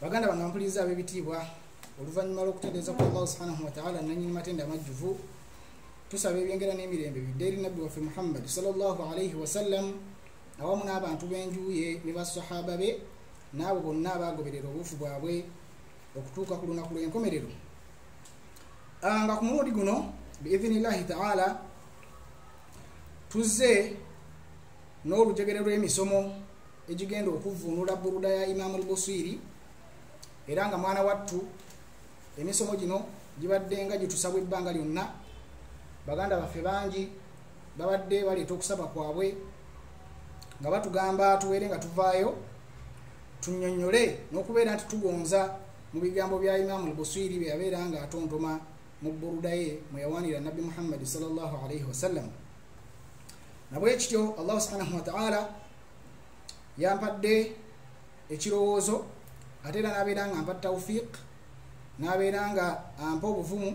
baganda bange ampuliriza ab'ebitiibwa oluvannyuma lw'okutendereza kwa allahu subhanahu wataala nanyini matenda amajjuvu tusaba ebyengera n'emirembe bidde eri nabbi waffe muhammadi salllahu alaihi wasallam awamu n'abantu b'enjuye ne basahaba be n'abo bonna abaagoberera obuufu bwabwe okutuuka ku lunaku lw'enkomerero ah, nga ku mulundi guno biidhinillahi taala tuzze n'olujegere lw'emisomo egigenda okuvvuunula buruda ya imaamu lbusiiri era nga mwana wattu emisomo gino gibadde nga gitusabwa ebbanga lyonna baganda baffe bangi babadde baleeta okusaba kwabwe nga batugamba tubeere nga tuvaayo tunyonyole n'okubeera nti tugonza mu bigambo bya imaamu lbusiiri bye yabeera nga atontoma mu buruda ye mwe yawanira nabbi muhammadi salllah alaihi wasallam nabwekityo allahu subhanahu wataala yampadde ekirowoozo ate era nabeera nga mpa taufiq nabeera nga ampa obuvumu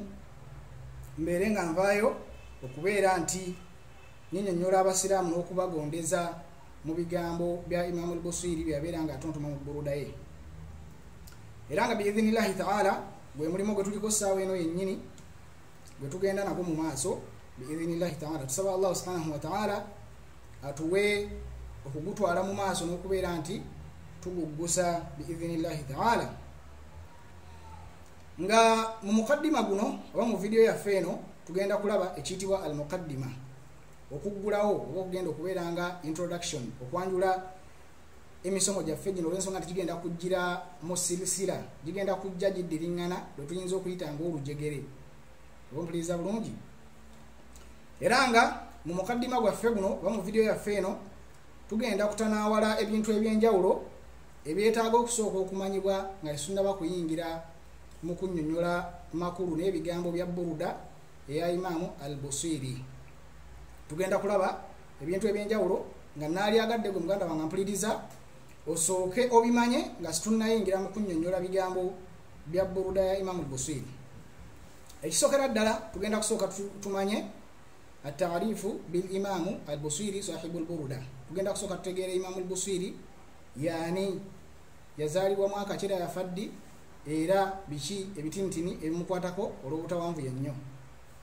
mbeere nga nvaayo okubeera nti ninyonyola abasiraamu n'okubagondeza mu bigambo bya imamu lbusiri byeyabeera nga atontoma mu burudaye era nga biidhinillahi taala gwe mulimu gwe tuliko saawa eno yennyini gwe tugenda nago mu maaso biidhinillahi taala tusaba allahu subhanahu wataala atuwe okugutwala mu maaso n'okubeera nti tuguggusa biidhinillahi taala nga mu mukaddima guno oba mu vidiyo yaffe eno tugenda kulaba ekiyitibwa al mukaddima okuggulawo oba okugenda okubeera nga introduction okwanjula emisomo gyaffe gino olwensonga nti gigenda kujjira mu sirisira gigenda kujja giddiriŋŋana lwe tuyinza okuyita ngaolujegere ompuliriza bulungi era nga mu mukaddima gwaffe guno oba mu vidiyo yaffe eno tugenda kutanaawala ebintu eby'enjawulo ebyetaaga okusooka okumanyibwa nga tesunnaba kuyingira mu kunnyonnyola makulu n'ebigambo bya buruda eya imaamu al busiri tugenda kulaba ebintu ebyenjawulo nga naalyagadde gwe muganda wange mpuliriza osooke obimanye nga situnnayingira mu kunnyonnyola bigambo bya buruda ya imamu busiri ekisookera ddala tugenda kusooka tumanye atarifu bil imamu al busiri sahibu lburuda tugenda kusooka tutegeera imamu lbusiri yaani yazaalibwa mwaka kira yafa ddi era biki ebitintini ebimukwatako olw'obutawanvu yennyo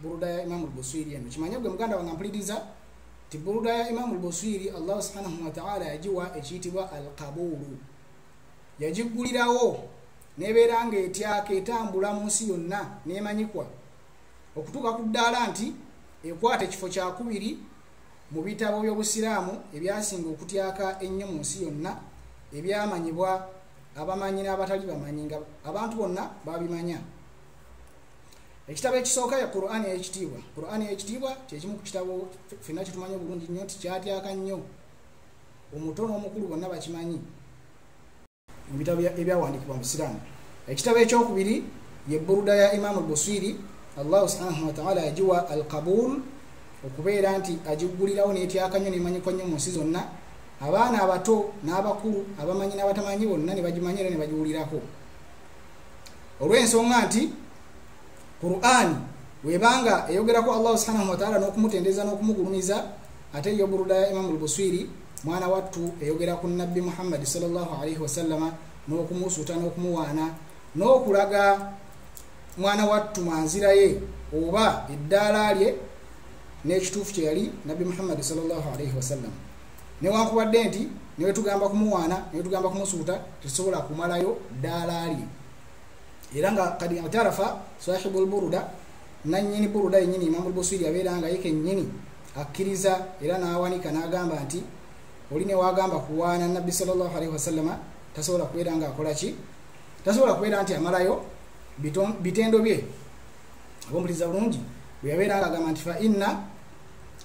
buruda ya imamu lbuswiri eno kimanye gwe muganda wange mpuliriza ti buruda ya imamu lbuswiri allah subhanahu wataala yagiwa ekiyitibwa alkabuulu yagiggulirawo nebeera nga etyaka etambula mu nsi yonna nemanyikwa okutuuka ku ddaala nti ekwata ekifo kyakubiri mu bitabo by'obusiraamu ebyasinga okutyaka ennyo mu nsi yonna ebyamanyibwa abamanyi n'abatali bamanyi nga abantu bonna babimanya ekitabo ekisooka ya quran eyekitiibwa quran eyekitiibwa kyekimu ku kitabo fenna kitumanyi obulungi nnyo nti kyatyaka nnyo omuto n'omukulu bonna bakimanyi mu bitabo ebyawandikibwa mu busiraamu ekitabo ekyokubiri ye buruda ya imaamu albuswiri allahu subhanahu wataala yagiwa al kabul okubeera nti agiggulirawo netyaka nnyo nemanyikwa nnyo mu nsi zonna abaana abato n'abakulu abamanyi n'abatamanyi bonna ne bagimanya era ne bagiwulirako olw'ensonga nti qur'ani webanga eyogerako allahu subhanahu wataala n'okumutendereza n'okumugulumiza ate yo buruda ya imamu lbuswiri mwana wattu eyogera ku nabbi muhammadi salllah alaihi wasallama n'okumusuuta n'okumuwaana n'okulaga mwana wattu mwanzira ye oba eddaala lye n'ekituufu kye yali nabbi muhammadi salllah alaihi wasallama newankubadde nti newetugamba kumuwaana newetugamba kumusuuta tetusobola kumalayo ddaala lye era nga kadi atarafa sahibu lburuda nanyini buruda yenyini imamu lbusiri abeera nga ye kenyini akkiriza era n'awanika n'agamba nti oli newagamba kuwaana nabbi salllahalaihi wasallama tasobola kubeera nga akola ki tasobola kubeera nti amalayo bitendo bye abombuliza bulungi bweyabeera nga agamba nti fainna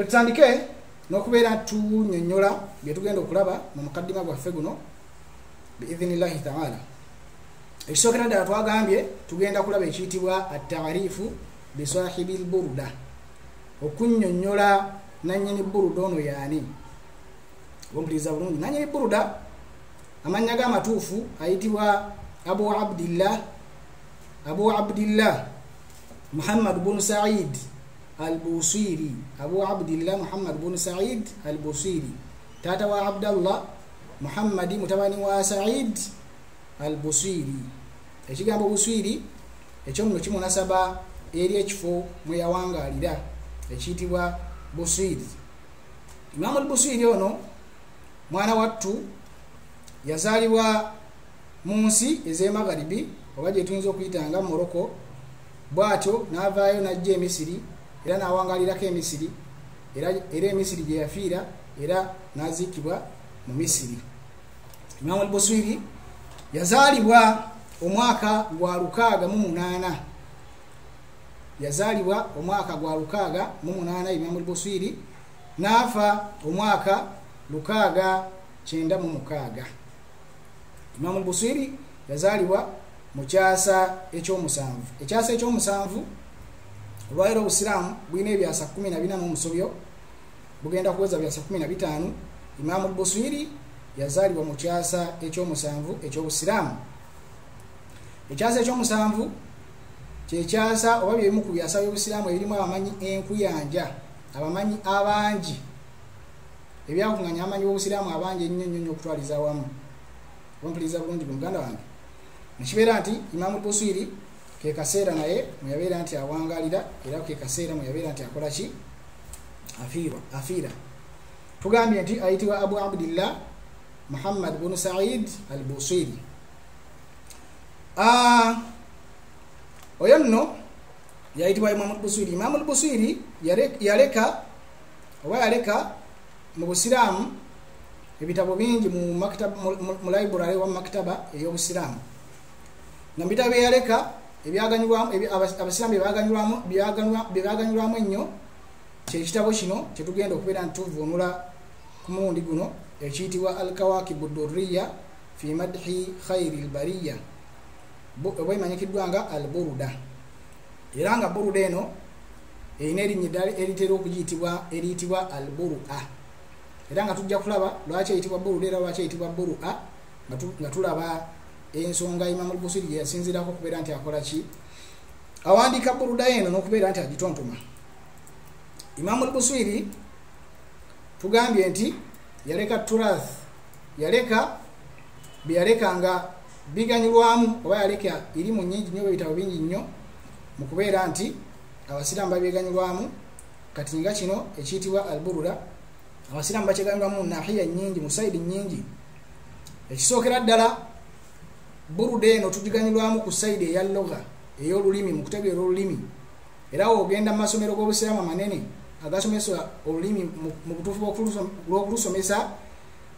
ketutandike n'okubeera tunyonyola byetugenda okulaba mu mukaddima gwaffe guno biidhinillahi taala ekisookera ddala twagambye tugenda kulaba ekiyitibwa atarifu bisahibi lburuda okunyonyola nanyini buruda ono yaani ompuliriza bulungi nanyini buruda amannya ge amatuufu ayitibwa abu abdillah abu abdillah muhammad bunu said albusiiri abu abdillah muhammad bunu said albusiiri taata wa abdallah muhammadi mutabani wa said albusiiri ekigambo busiiri ekyomuno kimunasaba eri ekifo mwe yawangaalira ekiyitibwa busiiri imaamu albusiiri ono mwana wattu yazaalibwa mu nsi ez'emagharibi oba gyetuyinza okuyita nga morocco bw'atyo n'avaayo n'ajja emisiri era n'awangalirako emisiri era emisiri gye yafiira era n'aziikibwa mu misiri imamu albuswiri yazaalibwa omwaka gwa lukaaga mu munaana yazaalibwa omwaka gwa lukaaga mu munaana imamu albuswiri n'afa omwaka lukaaga kyenda mu mukaaga imamu buswiri yazaalibwa mu kyasa ekyomusanvu ekyasa ekyomusanvu olwaliro obusiraamu bulina ebyasa 14 mu musobyo bugenda kuweza byasa 15 imamu buswiri yazaalibwa mu kyasa ekyomusanvu ekyobusiraamu ekyasa ekyomusanvu kyekyasa oba byebimu ku byasa byobusiraamu ebirimu abamanyi enkuyanja abamanyi abangi ebyakunganya amanyi wobusiraamu abangi ennyo nnyo nnyo okutwaliza awamu ompuliriza bulungi bwe muganda wange nekibeera nti imamu buswiri kekaseera naye mweyabeera nti awangalira era kekaseera mweyabeera nti akola ki afiirwa afiira tugambye nti ayitibwa abu abdillah muhammad bunu said al buswiri ah, oyo nno yayitibwa imamu lbuswiri imamu lbuswiri yaleka oba yaleka mu busiraamu ebitabo bingi mu library wa maktaba ey'obusiraamu nga mubitabo byeyaleka abasiraamu byebaganyulwamu ennyo kyekitabo kino kyetugenda okubeera nti tuvunula ku mulundi guno ekiyitibwa al kawakibu duriya fi madhi khairi lbariya oba emanyikiddwa nga al buruda era nga buruda eno erina erinnya eddala eritera okuyitibwa eriyitibwa al buru a era nga tujja kulaba lwaki eyitibwa buru era lwaki eyitibwa buru a nga tulaba ensonga imamu lbusiri gyeyasinzirako okubeera nti akola ki awandiika buruda eno n'okubeera nti agitontoma imamu lbusiri tugambye nti yaleka turath yaleka byeyaleka nga biganyulwamu oba yaleka irimu nyingi nyo ebitabo bingi nnyo mu kubeera nti abasiraamu babyeganyulwamu kati nga kino ekiyitibwa alburura abasiraamu bakyeganyulwamu nahiya nyingi mu saidi nyingi ekisookera ddala buruda eno tugiganyulwamu ku saidi eya loga ey'olulimi mu kutegeera olulimi era ogenda mu masomero g'obusiraamu amanene agasomesa olulimi mu butuufu lw'okulusomesa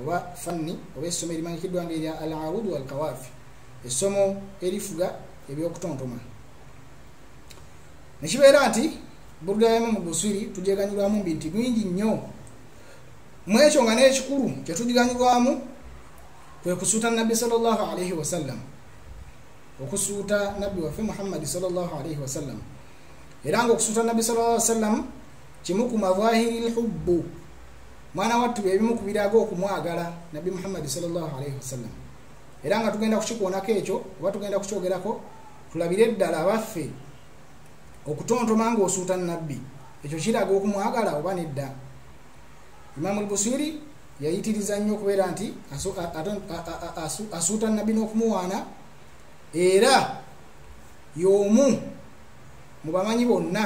oba fanni oba essomo erimanyikiddwa nga erya al audu walkawaafi essomo erifuga ebyokutontoma nekibeera nti burda ya imamu busiri tugyeganyirwamu mbi nti bingi nnyo mu ekyo nga n'ekikulu kyetugiganyirwamu kwe kusuuta nabbi salllah alaihi wasallam okusuuta nabbi waffe muhammadi salllah alaihi wasallam era nga okusuuta nabbi salllah sallam kimu ku mavahiri lhubbu mwana wattu byebimu ku biraga okumwagala nabbi muhammadi salllahalaihi wasallam era nga tugenda kukikoonako ekyo oba tugenda kukyogerako tulabire eddala abaffe okutontoma nga osuuta nabbi ekyo kiraga okumwagala oba nedda imamu lbusiri yayitiriza nnyo okubeera nti asuuta nabbi n'okumuwaana era yomu mubamanyi bonna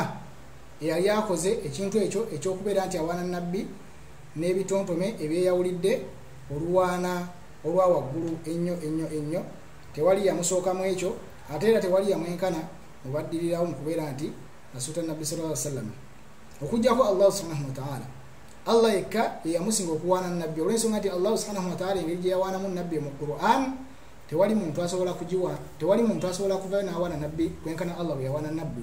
eyali akoze ekintu ekyo ekyokubeera nti awaana nabbi n'ebitontome ebyeyawulidde oluwaana olwa waggulu ennyo ennyo ennyo tewali yamusooka mu ekyo ate era tewali yamwenkana mubaddirirawo mu kubeera nti asuuta nabbi sal lla sallama okujjako allahu subhanahu wataala allah yekka yeyamusinga okuwaana nabbi olwensonga nti allahu subhanahu wataala engeri gye yawaanamu nabbi mu quran tewali muntu asobola kugiwa tewali muntu asobola kuvayo n'awaana nabbi kwenkana allah bwe yawaana nabbi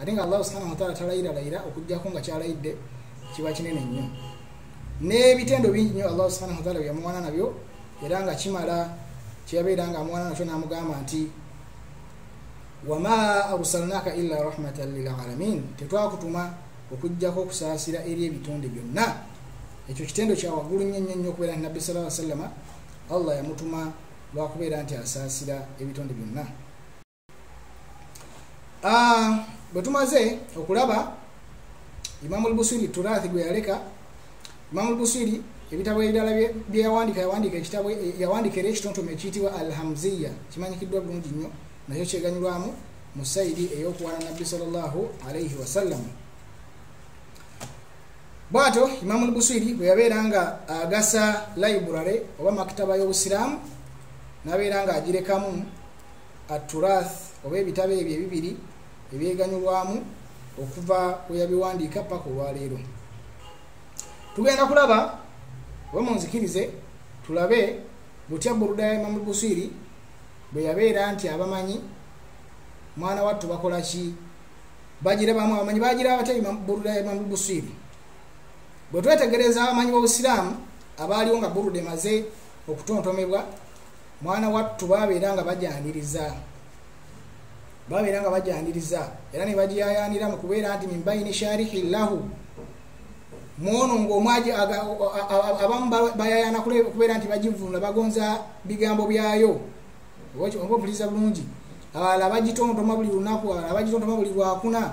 ate nga allahu subhanahu wataala talayiralayira okujjako nga kyalayidde kiba kinene nnyo n'ebitendo bingi nnyo allahu subhanahu wataala byeyamuwana nabyo era nga kimala kyeyabeera nga amuwana nakyo n'amugamba nti wama arsalnaka illa rahmatan lilalamin tetwakutuma okujjako okusaasira eri ebitonde byonna ekyo kitendo kyawaggulu nnyo nnyo nnyo okubeera nti nabbi sala wa sallama allah yamutuma lwakubeera nti asaasira ebitonde byonna ah, bwe tumaze okulaba imamu lbusiri turathi gwe yaleka imamu lbusiri ebitabo ebirala byeyawandika yawandika ekitabo eh, yawandika era ekitontome ekiyitibwa alhamziya kimanyikiddwa bulungi nnyo nakyo kyeganyulwamu mu saidi eyokuwana nabbi salllahu alaihi wasallam bwatyo imamu lbusiri bwe yabeera nga agasa library oba makitaba y'obusiraamu nabeera nga agirekamu aturath oba ebitabo ebyo ebibiri ebyeganyulwamu okuva weyabiwandiika paka olwaleero tugenda kulaba oba munzikirize tulabe butya buruda ya imamu busiri bwe yabeera nti abamanyi mwana wattu bakola ki bagira bamu abamanyi bagira batya buruda ya imamu busiri bwe twetegereza abamanyi b'obusiraamu abaaliwo nga buruda emaze okutontomebwa mwana wattu babeera nga bajaniriza babeera nga bajaniriza era nebagiyayanira mu kubeera nti mimbaini sharihi llahu mwono ngaomwaji abamu bayayana kubeera nti bagivunula bagonza bigambo byayo oba obuliza bulungi abala bagitontoma buli lunaku abala bagitontoma buli lwakuna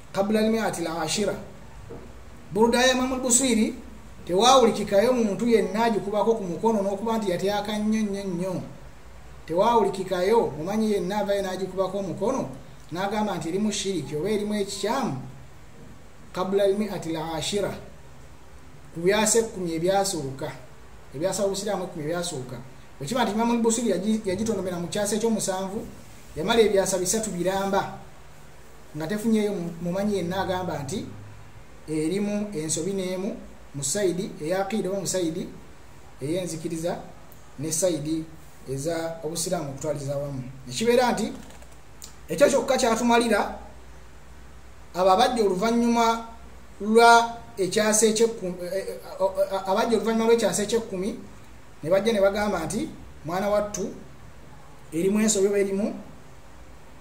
kabla almiati lashira buruda ya imamu lbuswiri tewawulikikayo muntu yenna agikubako ku mukono n'okuba nti yatyaka nnyo nnyo nnyo tewawulikikayo mumanyi yenna avayo n'agikubako omukono n'agamba nti erimu shiriki oba erimu ekikyamu kabula lmi ati lashira ku byasa ekkumi ebyasooka ebyasa obusiraamu ekkumi ebyasooka okiba nti imamu lbusiri yagitondomera mu kyasa ekyomusanvu yamala ebyasa bisatu biramba nga tefunyeyo mumanyi yenna agamba nti erimu ensobi n'emu mu saidi eyaqiida oba musaidi eyenzikiriza ne saidi eza obusiraamu okutwaliza wamu ekibeera nti ekyo kyokka kyatumalira abo abajja oluvannyuma lwa ekyasa ekyekkumi eh, eh, eh, abajja oluvannyuma lwekyasa ekyekkumi ne bajja ne bagamba nti mwana wattu erimu ensobi oba erimu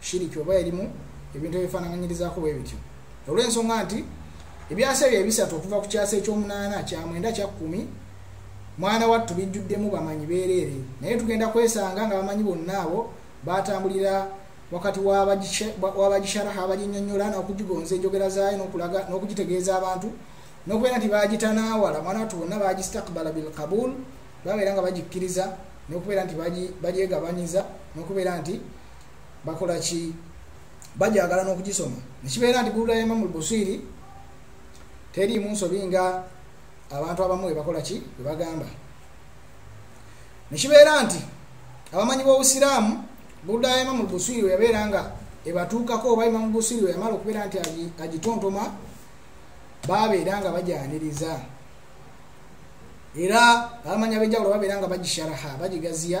shiriki oba erimu ebintu ebifaanananyirizaako bwe bityo olw'ensonga nti ebyasa ebyo ebisatu okuva ku kyasa ekyomunaana kyamwenda kyakkumi mwana wattu bijjuddemu bamanyi beereere naye tugenda kwesanga nga bamanyi bonna abo baatambulira wakati wabagisharaha abaginyonyola n'okugigonza enjogera zaayo nokulaga n'okugitegeeza abantu nokubeera nti bagitanaawala mwana wattu bonna bagistakbala bilkabul babeera nga bagikkiriza nokubeera nti bagyegabanyiza nokubeera nti bakola ki bajagala n'okugisoma nekibeera nti bulula ya imamu lbusiri teriimu nsobi nga abantu abamu webakola ki webagamba nekibeera nti abamanyi b'obusiraamu bulula ya imamu lbusiri weyabeera nga ebatuukako oba imamu lbusiri weyamala okubeera nti agitontoma babeera nga bajaniriza era abamanyi ab'enjawulo babeera nga bagisharaha bagigaziya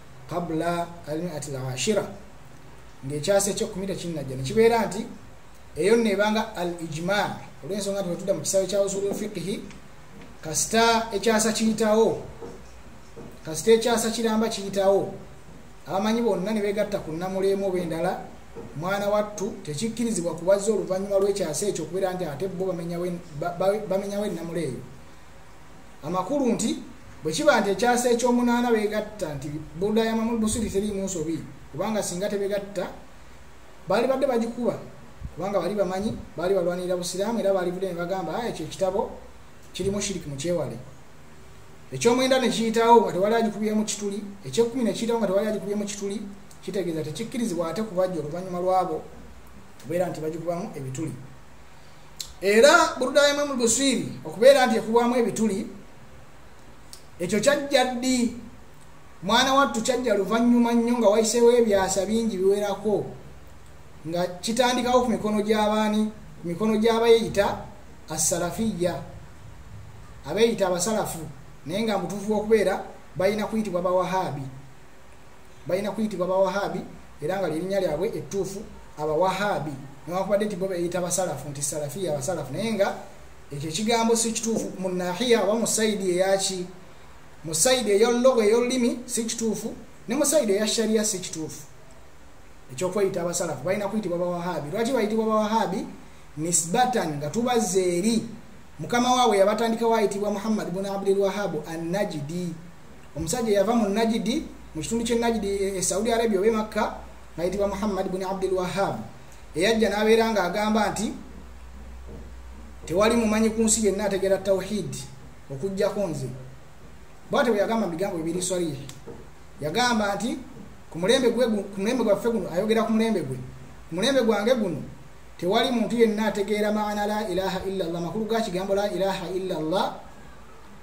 kabula almiati lashira ngaekyasa ekyekumi tekinnajja nekibeera nti eyo nno ebanga al ijma olwensonga nti wetudda mu kisawe kya usulu lfiqihi kasita ekyasa kiyitawo kasita ekyasa kiramba kiyitawo abamanyi bonna ne begatta ku namuleemu oba endala mwana wattu tekikkirizibwa kubazza oluvannyuma lw'ekyasa ekyo okubeera nti ate bo bamenyawo ennamulo eyo amakulu nti bwe kiba nti ekyasa ekyomunaana begatta nti boda ya mamul busiri teriimu nsobi kubanga singa tebegatta baali badde bagikuba kubanga bali bamanyi baali balwanirira busiraamu era baalivudde ne bagamba aya ekyo ekitabo kirimu shiriki mu kyewale ekyomwenda ne kiyitawo nga tewali agikubyemu kituli ekyekumi ne kiyitawo nga tewali agikubyemu kituli kitegeeza tekikkirizibwa ate kubajja oluvannyuma lwabo kubeera nti bagikubamu ebituli era burudayemu mubuswiri okubeera nti ekubwamu ebituli ekyo kyajja ddi mwana wattu kyajja luvannyuma nnyo nga wayiseewo ebyasa bingi biwerako nga kitandikawo ku mikono gy'abaani ku mikono gy'abayeyita assalafiya abeyita abasalafu naye nga mutuufu wokubeera balina kuyitibwa bawahaabi balina kuyitibwa bawahabi era nga lyerinnya lyabwe ettuufu abawahabi newakubadde nti bo beyita basalafu nti salafiya abasalafu naye nga ekyo ekigambo si kituufu mu nahiya oba mu saidi eyaki mu saidi eyollogo eyolulimi si kituufu ne mu saidi eya shariya si kituufu ekyokweyita abasalafu balina kuyitibwa bawahabi lwaki bayitibwa bawahabi nisbatan nga tubazza eri mukama waabwe yabatandikawo ayitibwa muhammad bun abdulwahabu annajidi omusajja yava mu najidi mu kitundu kye najidi e, e saudi arabia oba emakka ngayitibwa muhammad buni abdul wahab eyajja n'abeera nga agamba nti tewali mumanyi ku nsi yenna ategera tawhid okujjako nze bwate bwe yagamba bigambo bibiri swalihi yagamba nti ku mulembe gwaffe guno ayogera ku mulembe gwe ku mulembe gwange guno tewali muntu yenna ategeera maana la ilaha illa llah makulu ga kigambo la ilaha illa llah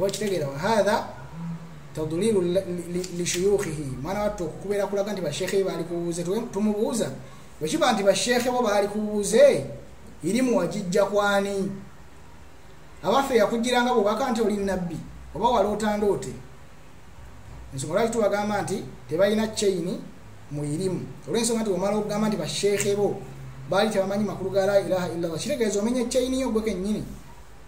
wakitegeera wahatha tadlilu lishuyukhihi mwana wattu okukubeera kulaga nti bashekhe baali kubuuze tumubuuza bwekiba nti bashekhe bo baali kubuuze irimu wagijja kwani abaffe yakugiranga bubaka nti oli nabbi oba wali otandoote ensonga lwaki tubagamba nti tebalina chaini mu irimu olwensonga nti omala okugamba nti bashekhe bo baali tebamanyi makulu ga la ilaha illallah kitegeeza omenya chaini yo gwe kennyini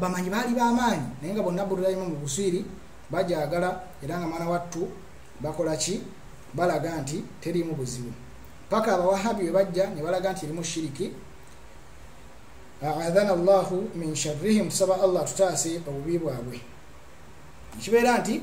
bamanyi baali bamaanyi naye nga bonna bululayimu mu buswiri bajagala era nga mwana wattu bakola ki balaga nti teriimu buzibu paka abawahabi we bajja ne balaga nti erimu shiriki aadhana llahu min sharrihim tusaba allah tutaase obubi bwabwe ekibeera nti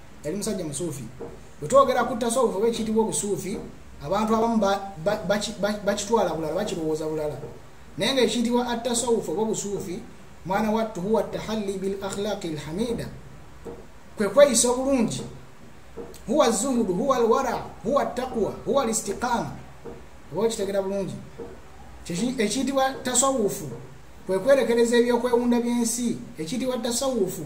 yali musajja musuufi bwe twogera ku tasawufu oba ekiyitibwa obusuufi abantu abamu bakitwala bulala bakirowooza bulala naye nga ekiyitibwa attasawufu oba obusuufi mwana wattu huwa tahalli bil akhlaqi lhamida kwe kweyisa obulungi huwa zuhudu huwa alwara huwa taqwa huwa alistiqama oba okitegera bulungi ekiyitibwa tasawufu kwekwerekereza ebyokwewunda byensi ekiyitibwa tasawufu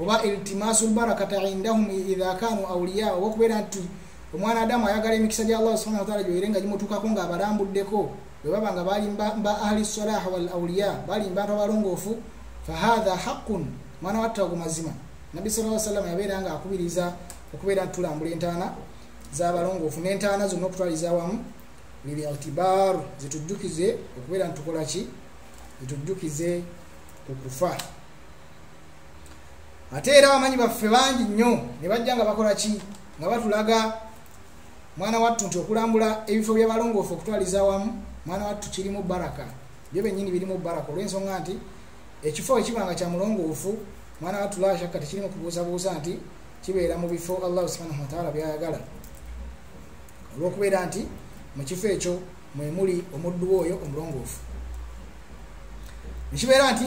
oba iltimasu lbarakata indahum idha kanu auliya oba okubeera nti omwana adamu ayagala emikisa gya allah subhana wataala gyoyire nga gimutuukako nga abalambuddeko bwebaba nga bali ba ahli salaha wal auliya bali mbantu abalongoofu fahatha haqun mwana watta ogu mazima nabbi sala lla sallama yabeera nga akubiriza okubeera nti tulambula entaana zabalongoofu n'entaana zonna okutwaliza awamu lilitibar zitujjukize okubeera nti tukola ki zitujjukize ku kufa ate era abamanyi baffe bangi nnyo ne bajja nga bakola ki nga batulaga mwana wattu nti okulambula ebifo byabalongoofu okutwaliza awamu mwana wattu kirimu baraka byo benyini birimu baraka olwensonga nti ekifo ekiba nga kya mulongoofu mwana wattu lashakka tekirimu kubuuzabuuza nti kibeera mu bifo allahu subhanahu wataala byayagala olwokubeera nti mu kifo ekyo mwemuli omuddu we oyo omulongoofu nekibeera nti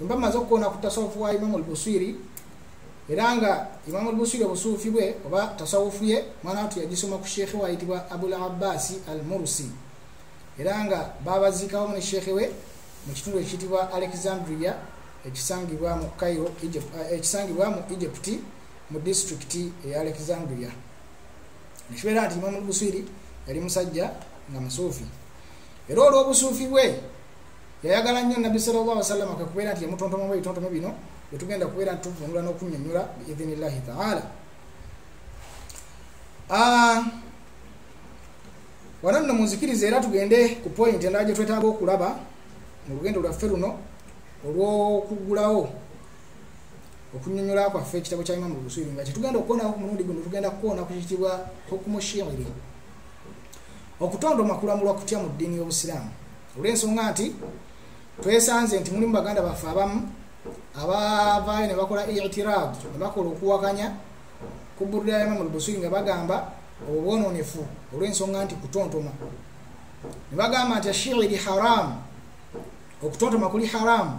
mba maze okukoona ku tasawufu wa imamu lbuswiri era nga imamu lbuswiri obusuufi bwe oba tasawufu ye mwana watu yagisoma ku sheekhe wayitibwa abul abbasi al murusi era nga babaziikawomu ne sheekhe we mu kitundu ekiyitibwa alexandria ekisangibwa mu cairo eh, ekisangibwa mu egypt mu disitulikiti eya alexandria nekibeera nti imamu lbuswiri yali musajja nga musuufi era olw'obusuufi bwe yayagala nnyo nabbi salllah wasalama kekubeera nti yamutontomamu ebitontomo bino bwetugenda kubeera nti tuvunula n'okunyonyola biidhinillahi taala ah, wano nno munzikiriza era tugende ku pointi endala gye twetaaga okulaba mu lugendo lwaffe luno olw'okugulawo okunyonyola kwaffe ekitabo kya imamu luswiri nga kyetugenda okukoonako ku mulundi guno tugenda kukoona ku kitibwa hukumushiri okutonda omakulamulwa kutya mu ddiini y'obusiraamu olw'ensonga nti twesanze nti mulimu baganda baffe abamu abavaayo ne bakola itirad ne bakola okuwakanya ku burudaya imamu lbusiri nga bagamba obwo bwononefu olw'ensonga nti kutontoma ne bagamba nti ashiiri haramu okutontoma kuli haramu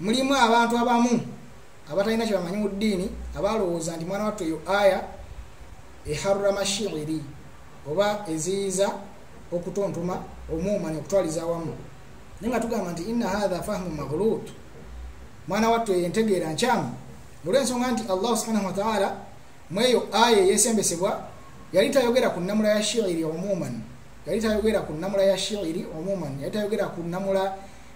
mulimu abantu abamu abatalina kyebamanyi mu ddiini abalowooza nti mwana wattu eyo aya eharrama shiiri oba eziyiza okutontoma omuumani okutwaliza awamu naye nga tugamba nti inna hatha fahmu maghlut mwana wattu eyo entegeera nkyamu olwensonga nti allahu subhanahu wataala mweyo aya eyesembesebwa yali tayogera ku namula ya shiiri omuumani yali tayogera ku namula ya shiiri omuumani yali tayogera ku namula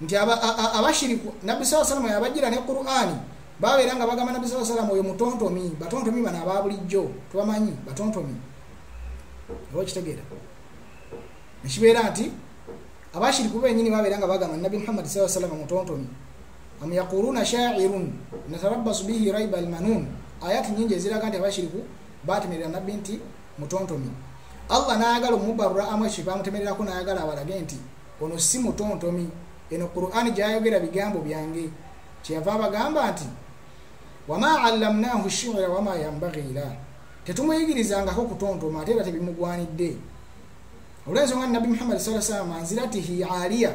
nti abashiriku nabbi saa salama yabajjira ne qurani babeera nga bagamba nabbi saa salama oyo mutontomi batontomi bano aba bulijjo tubamanyi batontomi oba okitegeera nekibeera nti abashiriku benyini babeera nga bagamba nabbi muhammadi saa salama mutontomi am yaquluna shairun natarabbasu bihi raiba almanun ayat nyingi eziraga nti abashiriku batemerera nabbi nti mutontomi allah nayagala omubarura amu ekyo bamutemererako nayagala abalage nti ono si mutontomi eno qurani gyayogera bigambo byange kyeyava abagamba nti wama allamnahu shira wama yambaghila tetumuyigirizangako kutontoma ate era tebimugwanidde olwensonga nabbi muhammadi saa salama nziratihi aliya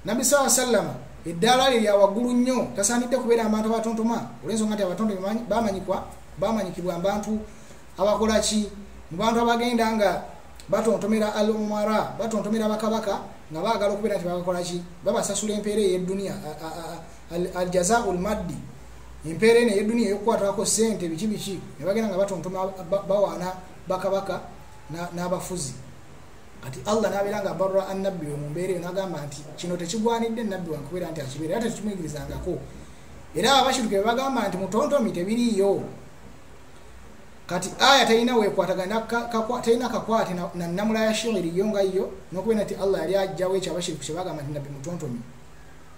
nabbi saa salama eddaala lye lya waggulu nnyo tasaanidde kubeera abantu abatontoma olwensonga nti abatontomi bamanyikibwa abantu abakola ki mu bantu abagenda nga batontomera al umara batontomera bakabaka nga baagala okubeera nti babakola ki babasasula empeera eyedduniya al jazau lmaddi empeera eno eyedduniya eyokukwatako sente biki biki ne bagenda nga batontoma bawaana bakabaka n'abafuzi na kati allah nabeera nga barra annabbi we mumbeera eyo nagamba nti kino tekigwanidde nabbi wange kubeera nti akibeera era tekikimwigirizangako era abashiruke bebagamba nti mutontomi tebiriiyo kati aya talina wekwatagana talina kakwate na namula ya shihiri yo nga yo nokubera nti allah yali ajjawo ekyo abashiriku kyebagamba nti nabbi mutontomi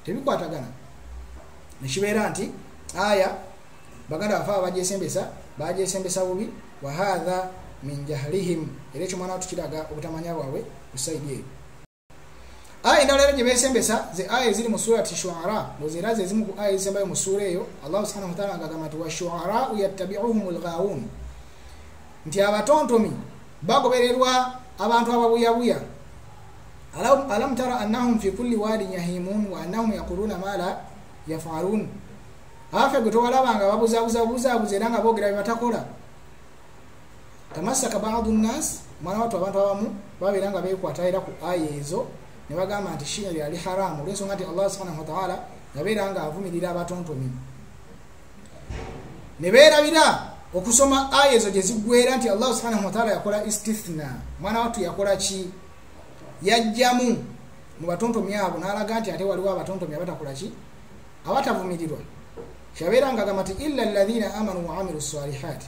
tebikwatagana nekibeera nti aya baganda bafe abajesembesa bajesembesa bubi wahatha min jahlihim era ekyo mwana watukiraga obutamanya bwabwe kusaidi eyo aya endala era gye beesembesa ze aya eziri mu surati shuara ngozi era ze ezimu ku aya ezisembayo mu suura eyo allahu subhanahu wataala agagamba nti washuarau yattabiuhum lghawun nti abatontomi bagobererwa abantu ababuyabuya alam tara annahum fi kulli wadin yahimun wa annahum yaquluna ma la yafalun afe gwe towalabanga babuzabuzabuzabuza era nga boogera bye batakola tamasaka badu nnas mwana watu abantu abamu babeera nga bekwata era ku aya ezo ne bagamba nti shia yali haramu olwensonga nti allah subhanahu wataala yabeera nga avumirira abatontomi ne beerabira okusoma aya ezo gye ziggwera nti allah subhanahu wataala yakola istithna mwana watu yakola ki yajjamu mu batontomi abo n'alaga nti ate waliwo abatontomi abatakola ki abatavumirirwa kyabeera nga agamba nti illa alladhina amanu waamilu salihati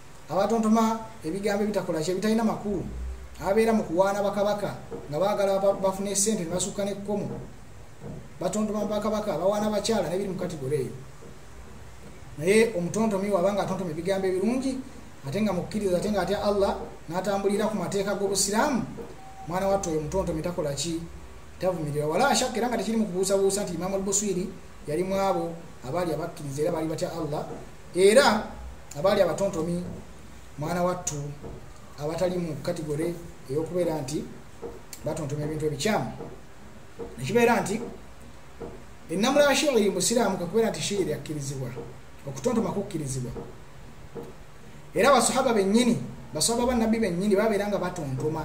abatontoma ebigambo ebitakolaki ebitalina makulu ababeera mu kuwaana bakabaka nga baagala bafuna esente ne basukka n'ekkomo batontoma bakabaka bawaana bakyala nebiri mu kategore eyo naye omutontomi waba nga atontoma ebigambo ebirungi ate nga mukkiriza ate nga atya allah n'atambulira ku mateeka g'obusiraamu mwana wattu oyo omutontomi takola ki tavumirira wala ashakka era nga tekiri mu kubuusabuusa nti imamu albuswiri yali mwabo abaali abakkiriza era baali batya allah era abaali abatontomi mwana wattu abatali mu kategore eyokubeera nti batontoma ebintu ebikyamu nekibeera nti enamula ya shiiri musiraamu kakubeera nti shiiri akkirizibwa okutontoma kukkirizibwa era basahaba benyini basahaba banabbi benyini babeera nga batontoma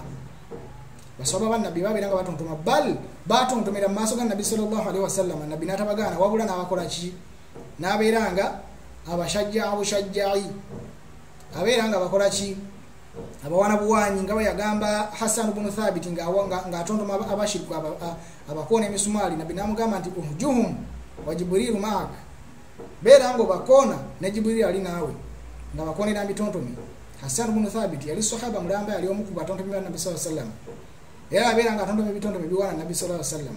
basahaba banabbi babeera nga batontoma bal batontomera mu maaso ga nabbi salllahu alihi wasallama nabbi natabagaana wabula nabakola ki nabeera nga abashajjaa bushajjai abeera nga bakola ki abawana buwanyi nga bweyagamba hassan bunu thabiti ngaatontoma abashiriku abakoona emisumaali nabbi namugamba nti uhjuhum wa jiburiru maak beera nga obakoona ne jiburiru ali naawe nga bakonera mitontomi hassan bunu thabiti yali sahaba mulamba yali omu ku batontomi ba nabbi saa sallam era abeera nga atontomi ebitontomi biwana nabbi saa sallam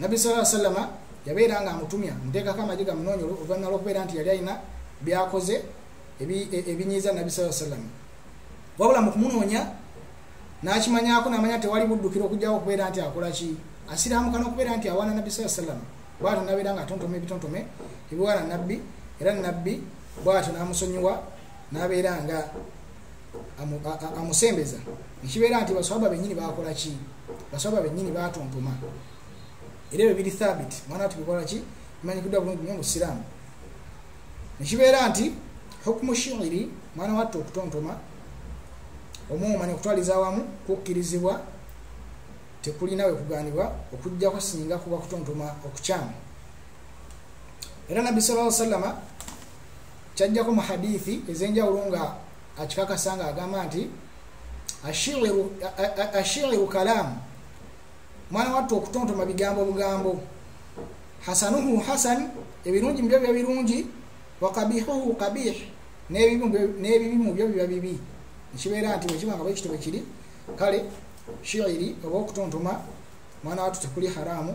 nabbi sala salama yabeera nga amutumya muteekako amagi gamunoonya oluvannyuma lwokubeera nti yali alina byakoze e, ebinyiiza nabbi saa salama wabula mu kumunoonya n'akimanyako namanya tewali buddukira okugjawo okubeera nti akola ki asiraamuka n'okubeera nti awaana nabbi saa salama bwatyo nabeera nga atontoma ebitontome ebiwaana nabbi era nabbi bwatyo namusonyiwa nabeera nga amusembeza nekibeera nti baswaba benyini bakola ki baswaba benyini batontoma era ebyo biri thabit mwana watu bikola ki bimanyikiddwa bulungi nyo musiraamu nekibeera nti hukumu shiiri mwana wattu okutontoma omuuma nekutwaliza awamu kukkirizibwa tekulina wekuganibwa okujjako singa kuba kutontoma okukyamu era nabbi sala salama kyajjako mu hadithi ez'enjawulo nga akikakasa nga agamba nti ashiiru kalaamu mwana wattu okutontoma bigambo bugambo hasanuhu hasan ebirungi mubyo biba birungi wakabihuhu kabih n'ebibi mubyo biba bibi ekibeera nti bwekiba nga bwekito bwekiri kale shiiri oba okutontoma mwana wattu tekuli haraamu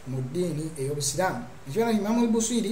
mu ddiini ey'obusiraamu ekibeera nti imamu lbuswiri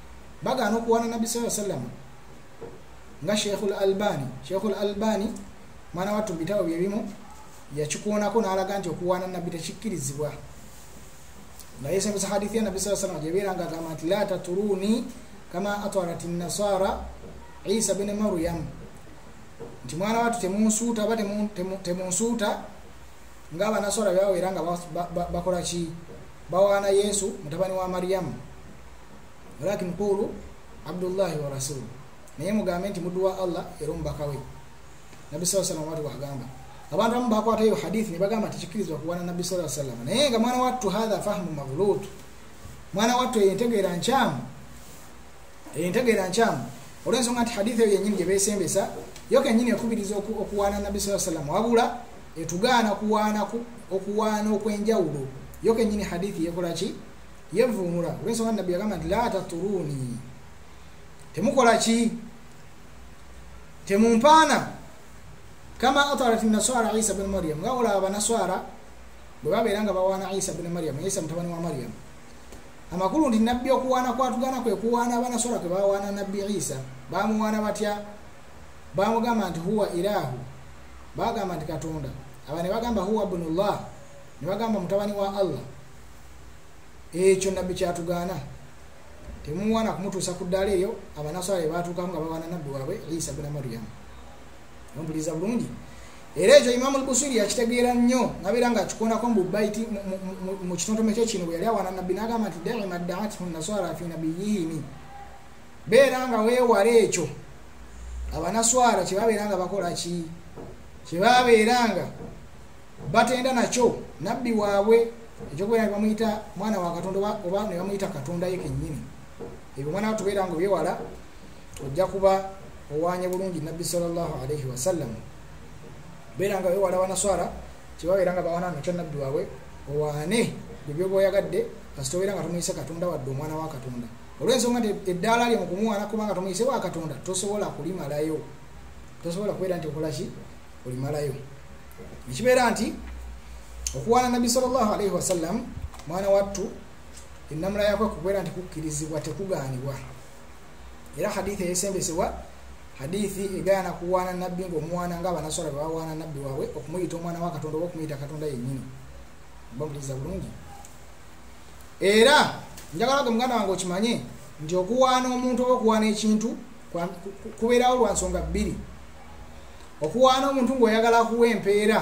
bagaana okuwaana nabbi saa sallama nga sheikhu l albani sheikhu l albani mwana wattu mubitabo byebimu yakikuunako n'alaga nti okuwaana nabbi tekikkirizibwa nga yesembesa hadithi ya nabbi saa sallama gyebeera nga agamba nti la taturuuni kama atwarat nasara isa bene maryamu nti mwana watu temunsuuta oba temunsuuta ngaabanaswala byawera nga bakola ki bawaana yesu mutabani wa mariyamu walakin qulu abdullahi wa rasulu naye mugambe nti muddu wa allah era omubaka we nabbi saa sallam wati wagamba abantu abamu bakwata eyo hadithi nebagamba nti kikirizibwa kuwana nabbi saa sallam naye nga mwana wattu hatha fahmu maghlut mwana wattu eyo entegeera nkyamu eyo entegeera nkyamu olwensonga nti hadithi eyo yenyini gyebesembesa yo kenyini ekubiriza okuwaana nabbi saa sallam wabula etugaana okuwaana okwenjawulo yo kenyini hadithi yekolaki yevuumula olwensonga nabbi yagamba nti la taturuuni temukola ki temumpaana kama atarat naswara isa bni mariam nga olaba banaswara bwe babeera nga bawaana isa bni mariam isa mutabani wa mariam amakulu nti nabbi okuwaana kwatugana kwe kuwaana abanaswara kwe bawaana nabbi isa bamuwaana batya bamugamba nti huwa ilahu bagamba nti katonda aba ne bagamba huwa bnullah ne bagamba mutabani wa allah ekyo nabbi kyatugaana temuwana kumutuusa ku ddaala eyo abanaswala ebaatuukamu nga bawana nabbi waabwe isa buna mariyamu ompuliriza bulungi era ekyo imamu lbusiri yakitegeera nnyo nabeera nga akikonako mububaiti mu kitontome kye kino bwe yali awana nabbi nagamba nti daima daathu naswara fi nabiyihimi beera nga weewala ekyo abanaswara kyebabeera nga bakola ki kyebabeera nga batenda nakyo nabbi waabwe ekyokubeera ne bamuyita mwana wa katonda oba ne bamuyita katonda ye kennyini ebyo mwana watubeera nga obyewala ojja kuba owanye bulungi nabbi salllahu alaihi wasallam beera nga obyewala banaswara kyebabeera nga bawana nakyo nabbi waabwe owane byebyoba oyagadde kasita obeera nga tomuyise katonda wadde omwana wa katonda olwensonga nti eddaala lye mukumuwana kubanga tomuyise wa katonda tosobola kulimalayo tosobola kubeera nti okolaki olimalayo nekibeera nti okuwaana nabbi salllah alaihi wasallam mwana wattu enamula yakwe kubeera nti kukkirizibwa tekugaanibwa era hadithi eyesembesebwa hadithi egaana kuwaana nabbi ngaomwana nga abanaswala bebawaana nabbi waabwe okumuyita omwana wa katonda oba okumuyita katonda yennyini bamuliriza bulungi era njagala ge muganda wange okimanye nti okuwaana omuntu oba okuwaana ekintu kubeerawo lwa nsonga bbiri okuwaana omuntu ng'oyagala akuwa empeera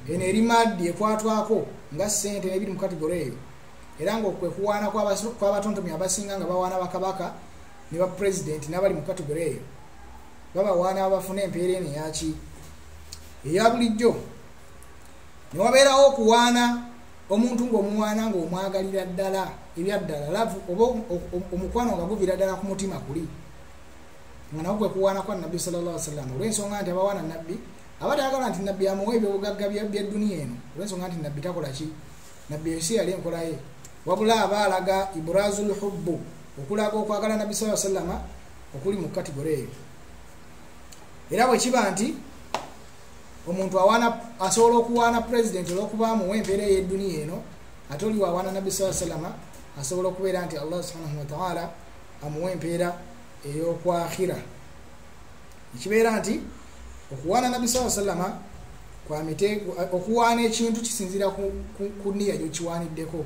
eno eri maddi ekwatwako nga ssente nebiri mu kategore eyo era ngaokwe kuwaana kwabatontomi abasinga nga bawaana bakabaka ne bapurezidenti n'abali mu kategore eyo babawaana abafuna empeera eno eyaki eya bulijjo ne wabeerawo okuwaana omuntu ng'omuwaana ng'omwagalira ddala ebyaddala lavu oba omukwano nga guvira ddala ku mutima kuli nga nawo gwekuwaana kwa nabbi salllah wasallama olw'ensonga nti abawaana nabbi aba tayagala nti nabbi amuwa ebyobugagga byedduniya eno olw'ensonga nti nabbi takola ki nabbi ensi yali enkolaye wabula aba alaga ibrazu lhubbu okulaga okwagala nabbi saa sallama okuli mu katigore eyo era bwe kiba nti omuntu awana asobola okuwaana president olwokuba amuwa empeera eyeduniya eno ate oliwo awaana nabbi saa salama asobola okubeera nti allah subhanahu wataala amuwa empeera eyokwakhira ekibeera nti okuwaana nabbi saa salama kwamite okuwaana ekintu kisinzira ku niya gyokiwaaniddeko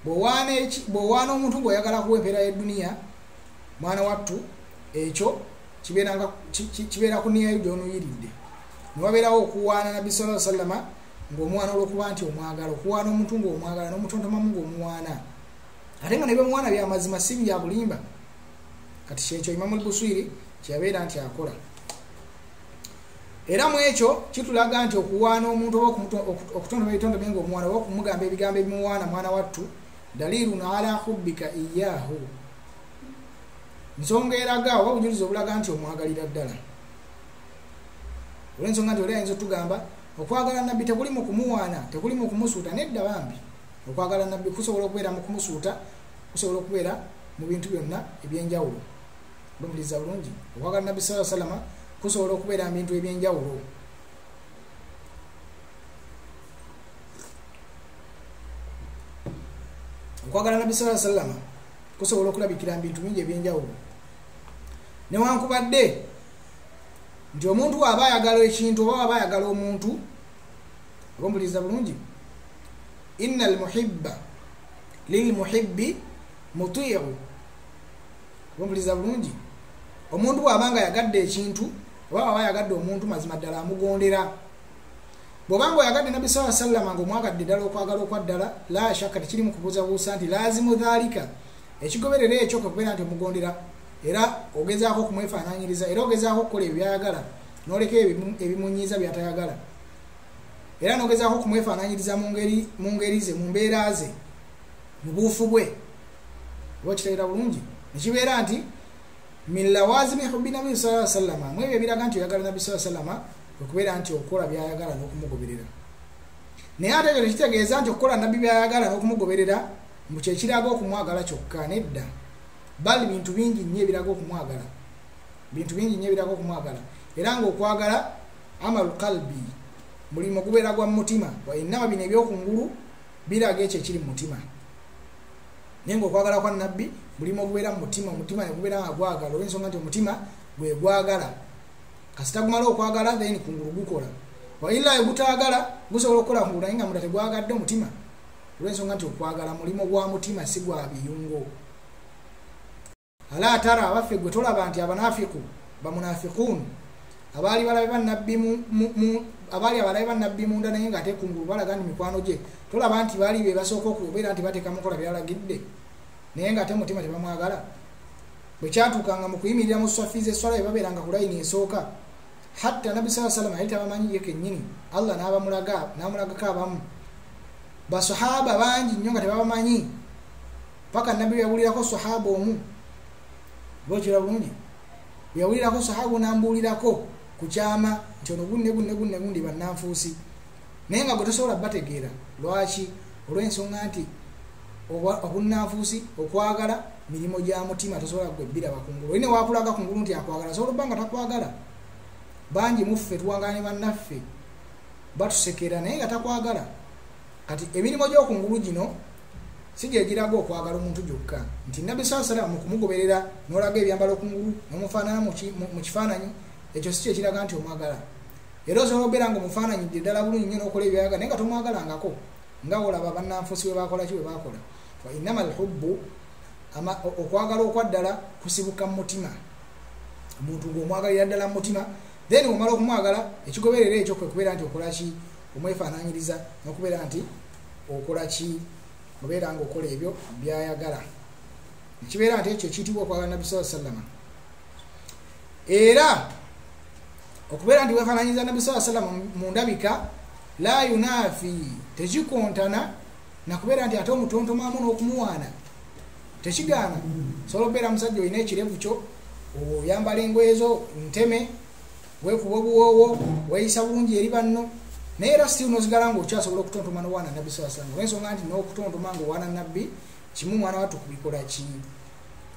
bwowaana omuntu ngaoyagala kuwa empeera yeduniya mwana wattu ekyo kibeera ku niya yuda onuyiridde newabeerawo okuwaana nabbi sala salama ngaomwana olwokuba nti omwagala okuwaana omuntu ngaomwagala nomutontomamu ngaomuwaana ate nga nebyomuwaana byamazima si byabulimba kati kyekyo imamu lbuswiri kyeyabeera nti akola era mu ekyo kitulaga nti okuwaana omuntu oba okutonda ebitonde bye ngaomwana oba okumugamba ebigambo ebimuwaana mwana wattu dalirun ala hubbika iyahu nsonga eraga oba obujulizi obulaga nti omwagalira ddala olwensonga nti oli ayinza otugamba okwagala nabbi tekuli mu kumuwaana tekuli mu kumusuuta nedda bambi okwagala nabbi kusobola okubeera mu kumusuuta kusobola okubeera mu bintu byonna ebyenjawulo bamuliriza bulungi okwagala nabbi saa salama kusobola okubeera mu bintu ebyenjawulo okwagala nabbi saa salama kusobola okulabikira mu bintu bingi ebyenjawulo newankubadde nti omuntu waaba ayagala ekintu oba waaba ayagala omuntu oba omubuliza bulungi ina almuhibba lilmuhibbi mutiiru oba omubuliza bulungi omuntu waaba nga ayagadde ekintu oba waaba ayagadde omuntu mazima ddala amugondera bwobanga oyagadde nabbi saa sallama nga omwagadde ddala okwagala okwaddala la shakka tekirimu kubuuzabuusa nti laazimu dhaalika ekigoberera ekyo kwekubeera nti omugondera era ogezaako okumwefaananyiriza era ogezaako okukola ebyo byayagala noleka ebimunyiiza byatayagala era nogezaako okumwefaananyiriza mu ngeri ze mu mbeera ze mu buufu bwe oba okitegeera bulungi nekibeera nti min lawazimi hubbi nabi saa sallama mu ebyo ebiraga nti oyagala nabbi saa sallama okubeera nti okukola byayagala n'okumugoberera naye ate ekyo tekitegeeza nti okukola nabbi byayagala n'okumugoberera mbu kyekiraga okumwagala kyokka nedda bal bintu bingi nnyo ebiraga okumwagala bintu bingi nnyo ebiraga okumwagala era ngaokwagala amalu kalbi mulimu gubeera gwa mumutima wainama bino ebyokungulu biraga ekyo ekiri mumutima naye ngaokwagala kwa nabbi mulimu ogubeera mu mutima omutima negubeera nga gwagala olwensonga nti omutima gwegwagala kasita gumala okwagala then kungulu gukola waila egutagala gusobola okukola kungulu naye nga munda tegwagadde omutima olwensonga nti okwagala mulimu gwa mutima si gwa biyungo ala tara abaffe gwe tolaba nti abanafiku bamunafikun abaali balabe banabbi abaali abalabe banabbi munda naye nga atekungulu balaga nti mikwano gye tolaba nti baali be basooka okubeera nti bateeka mukola byalagidde naye nga ate mutima tebamwagala bwe kyatuukanga mu kuyimirira mu swafi zeswala bebabeeranga ku layini esooka hatta nabbi saa salama yali tabamanyi ye kennyini allah nabamulaga namulagako abamu basahaba bangi nnyo nga tebabamanyi paka nabbi yawulirako sahaba omu bwekira bulungi yawulirako sahaba onambuulirako ku kyama nti ono gunne gunne gunne gundi bannanfuusi naye nga gwe tosobola bategeera lwaki olw'ensonga nti obunnanfuusi okwagala mirimu gya mutima tosobola gwe biraba kungulu oine wakulaga kungulu nti akwagala asobola obba nga takwagala bangi muffe tuwangala ne bannaffe batusekera naye nga takwagala kati emirimu gy'okungulu gino si gyegiraga okwagala omuntu gyokka nti nabbi saa salama mukumugoberera nolaga ebyambala okungulu nomufaanana mu kifaananyi ekyo si kyekiraga nti omwagala era osobola okubeera nga omufaananyi dde ddala bulungi nyo nokola ebyayaga naye nga tomwagalangako nga olaba bannanfuusi bwe bakola ki bwe bakola wainama alhubbu okwagala okwaddala kusibuka mu mutima omuntu ngaomwagalira ddala mu mutima then omala okumwagala ekigoberera ekyo kwekubeera nti okolaki omwefaananyiriza nokubeera nti okola ki obeera nga okola ebyo byayagala ekibeera nti ekyo ekiyitibwa okwagala nabbi saa sallama era okubeera nti wefaananyiriza nabbi saa sallama mu ndabika la yunafi tekikontana nakubeera nti ate omutontomamu n'okumuwaana tekigaana sobola okubeera musajja olina ekirevu kyo oyambala engoye zo nteme weekuba obuwoowo weeyisa bulungi eri banno naye era still nosigala nga okyasobola okutontoma nowaana nabbi saa sallam olwensonga nti n'okutontoma nga owaana nabbi kimu mwana wattu kubikola ki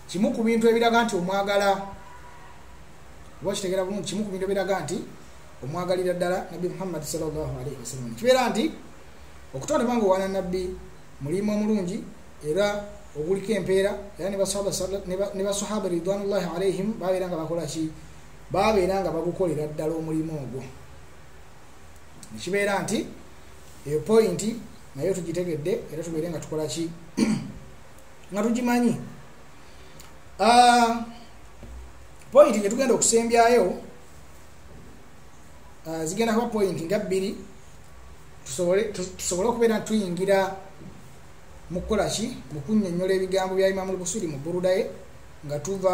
kimu ku bintu ebiraga nti omwagala oba kitegera bulungi kimu ku bintu ebiraga nti omwagalira ddala nabbi muhammadi salllahu alaihi wasallam kibeera nti okutontoma nga owaana nabbi mulimu omulungi era oguliko empeera era ne basahaba ridwanullahi alaihim babeera nga bakola ki babeera nga bagukolera ddala omulimu ogwo nekibeera nti eyo pointi naye tugitegedde era tubeere nga tukola ki nga tugimanyi ah, pointi gyetugenda okusembyayo ah, zigenda kuba pointi nga bbiri tusobole okubeera nti tuyingira mu kukola ki mu kunyonyola ebigambo bya imamu lbusiri mu burudaye nga tuva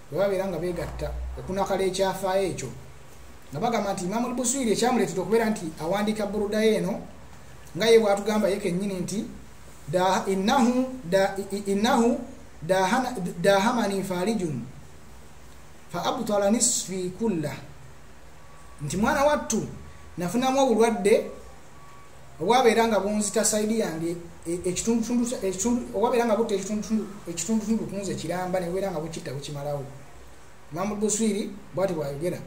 bwe babeera nga beegatta okunakala ekyafaayo ekyo nga bagamba nti imamu lbuswiri ekyamuleetera okubeera nti awandiika burudayo eno nga ye bwatugamba ye kennyini nti innahu dahamani farijun fa abtala nisfi kulla nti mwana wattu nafunamu obulwadde owabeera nga bunzita saidi yange e, ekitundutundu owabeera nga butta ekitundutundu kunze kiramba nebeera nga bukitta bukimalawo imamu buswiri bwati bwayogera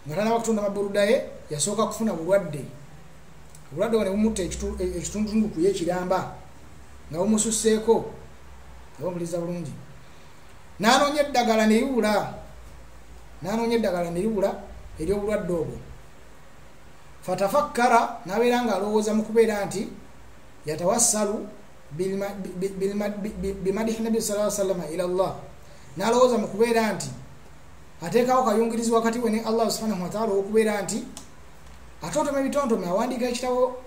nga tanaba kutunda maburudaye yasooka kufuna bulwadde obulwadde bone bumutta e, ekitundutundu kuye kiramba nga bumususseeko nga bamuliza bulungi nanoonya eddagala neriwula nanoonya eddagala neriwula eryobulwadde obwo fatafakkara nabeera nga alowooza mu kubeera nti yatawassalu bimadihi nabi sa salama ila llah nalowooza mu kubeera nti ateekawo kayungirizi wakati we ne allah subhanahu wataala ow'okubeera nti atontoma ebitontome awandiika ekitabo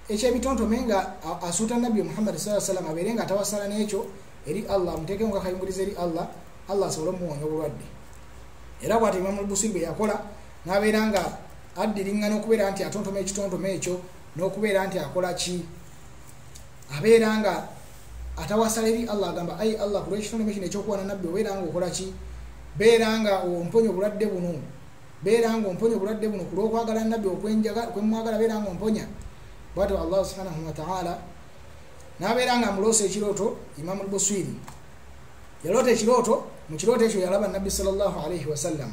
ekyebitontome nga asuuta nabbi muhammadi saa salama abeere nga atawassala n'ekyo eri allah amuteekemu nga kayungirizi eri allah allah asobole omuwonya obulwadde era bwati imamu lbusiri bwe yakola nabeera nga addiringana okubeera nti atontoma ekitontoma ekyo n'okubeera nti akola ki abeera nga atawasala eri allah agamba ai allah ku lwekitontoma kino ekyokuwana nabbi obeera nga okola ki beera nga omponya obulwadde buno beera nga omponya obulwadde buno ku lwokwagala nabbi okwemwagala beera nga omponya bwati allah subhanahu wataala nabeera nga amuloosa ekirooto imamu lbuswiri yaloota ekirooto mu kirooto ekyo yalaba nabbi salllahu alaihi wasallam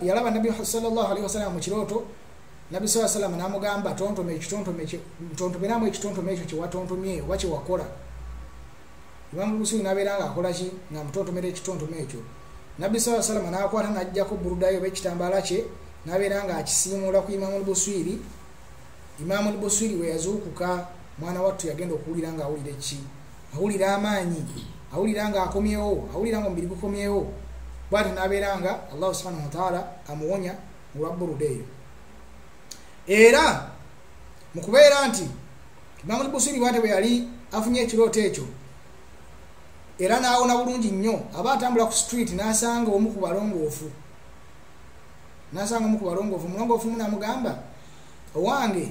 yalaba nabbi salllahalihi wasalama mu kirooto nabbi saa salama namugamba tontoma ekitontometontomeramu ekitontome ekyo kyewatontomye oba kyewakola imamu busuyu nabeera nga akolaki nga mutontomera ekitontome ekyo nabbi saa salama nakwata najjako burudayo oba ekitambaala kye nabeera nga akisiimuula ku imamu lbuswiri imamu lbuswiri weyazuukuka mwana wattu yagenda okuwulira nga awulira eki awulira amaanyi awulira nga akomyewo awulira nga omubiri gukomyewo bwati nabeera nga allahu subhanahu wataala amuwonya olwa buruda eyo era mukubeera nti imamu lbusiri bwate bwe yali afunye ekirooto ekyo era naawona bulungi nnyo aba atambula ku street nasanga omu ku balongoofu nasanga omu ku balongoofu omulongoofu munamugamba owange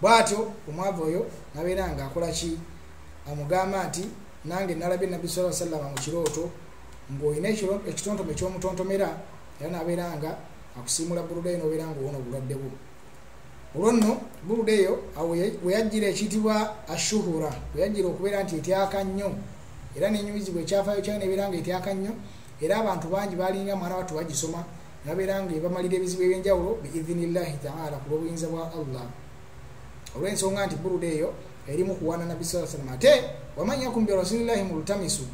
bwatyo omwavu oyo nabeera nga akola ki amugamba nti nange nalabye nabbi sa sallama mu kirooto ng'olina ekitontome ekyomutontomera era nabeera nga akusiimula buluda eyo nobeera nga owona obulwadde bwo olwo nno buluda eyo weyajjira ekiyitibwa ashuhura weyajjira okubeera nti etyaka nnyo era nenyumizibwa ekyafayo kyayo nebeera nga etyaka nnyo era abantu bangi balinga mwana wattu bagisoma nabeera nga ebamalira ebizibu ebyenjawulo biidhini llahi taala ku lwobuyinza bwa allah olw'ensonga nti buruda eyo erimu kuwaana nabbi saa salam ate wamanyakum bi rasulillahi mulutamisu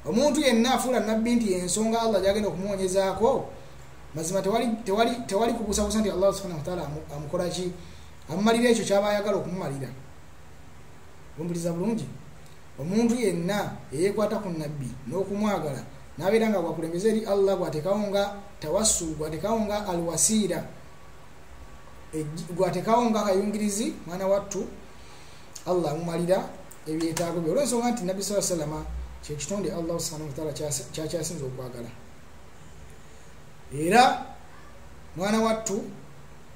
omuntu yenna afuula nabbi nti ensonga allah gyagenda okumuwonyezaako mazima tewali kubusabusa nti allah subhana wataala amukola ki amumalira ekyo kyaba ayagala okumumalira lumbuliza bulungi omuntu yenna eyekwata ku nabbi n'okumwagala nabeera nga bwakulembeza eri allah gwatekawo nga tawassul gwatekawo nga alwasiira gwatekawo nga akayungirizi mwana wattu allah amumalira ebyetaago bye olwensonga nti nabbi saa salama kyekitonde allah subhanahu wataala kyakyasinza okwagala era mwana wattu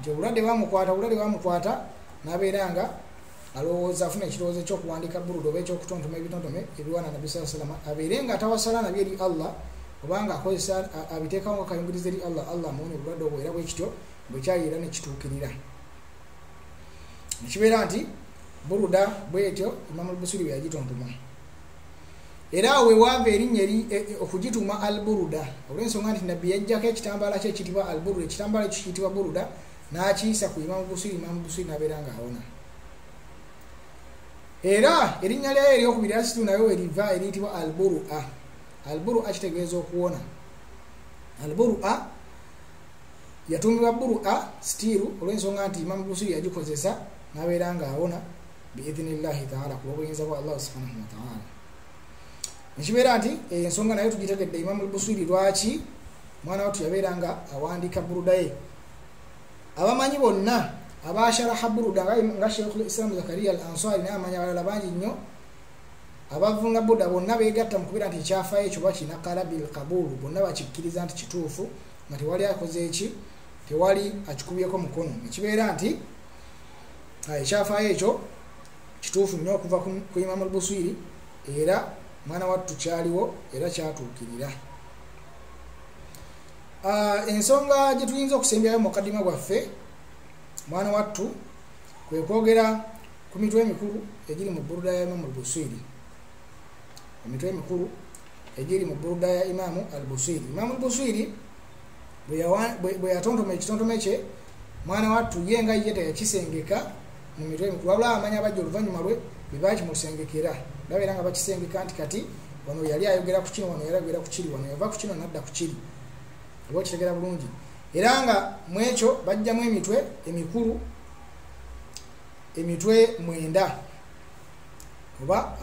nti obulwadde bamukwata obulwadde bamukwata nabeera nga alowooza afuna ekirowoozo ekyokuwandika burudo oba ekyokutontoma ebitontome ebiwana nabi saa salama abeere nga atawasala nabyo eri allah obanga akozesa abiteekawo nga kayungiriza eri allah allah amuwonya obulwadde obwo era bwekityo bwekyayi era nekituukirira nekibeera nti buruda bwetyo imamulbusiri bweyagitontoma era awo wewaava erinnya eri e, e, okugituuma al buruda olw'ensonga nti nabbi yajjako ekitambaala kye ekitibwa al buruda ekitambaala ekyo kiyitibwa buruda n'akiyisa ku imamu busiri imamu busiri n'abeera nga awona era erinnya lyayo eryokubiri asitu nayo weriva eriyitibwa al buru a al buru a kitegeeza okuwona al buru a yatuumibwa buru a sitiiru olw'ensonga nti imamu busiri yagikozesa n'abeera nga awona biidhini llahi taala ku lw'obuyinza bwa allah subhanahu wataala nekibeera nti eh, ensonga naye tugitegedde imamu lbuswiri lwaki mwana watu yabeera nga awandiika burudaye abamanyi bonna abasharaha buruda nga sheikh lislamu zakaria al ansari naye amanyi abalala bangi nnyo abavunga buda bonna begatta mu kubeera nti ekyafayo ekyo bakina kalabi lkabulu bonna bakikkiriza nti kituufu nga tewali akoze eki tewali akikubyeko mukono nekibeera nti ekyafaayo ekyo kituufu nnyo okuva ku imamu lbuswiri era mwana wattu kyaliwo era kyatuukirira ah, ensonga gye tuyinza okusembyayo mukadima gwaffe mwana wattu kwe kwogera ku mitwe emikulu egiri mu buruda ya imamu lbuswiri emitwe emikulu egiri mu buruda ya imamu albuswiri imamu lbuswiri bwe yatontoma ekitontome kye mwana wattu ye nga ye teyakisengeka mu mitwe emikulu wabula amanya abajja oluvannyuma lwe be baakimusengekera babeera nga bakisengeka nti kati wano yali ayogera ku kino wano yali ayogera ku kiri wano yava ku kino nadda ku kiri oba okitegera bulungi era nga mu ekyo bajjamu emitwe emikulu emitwe mwenda oba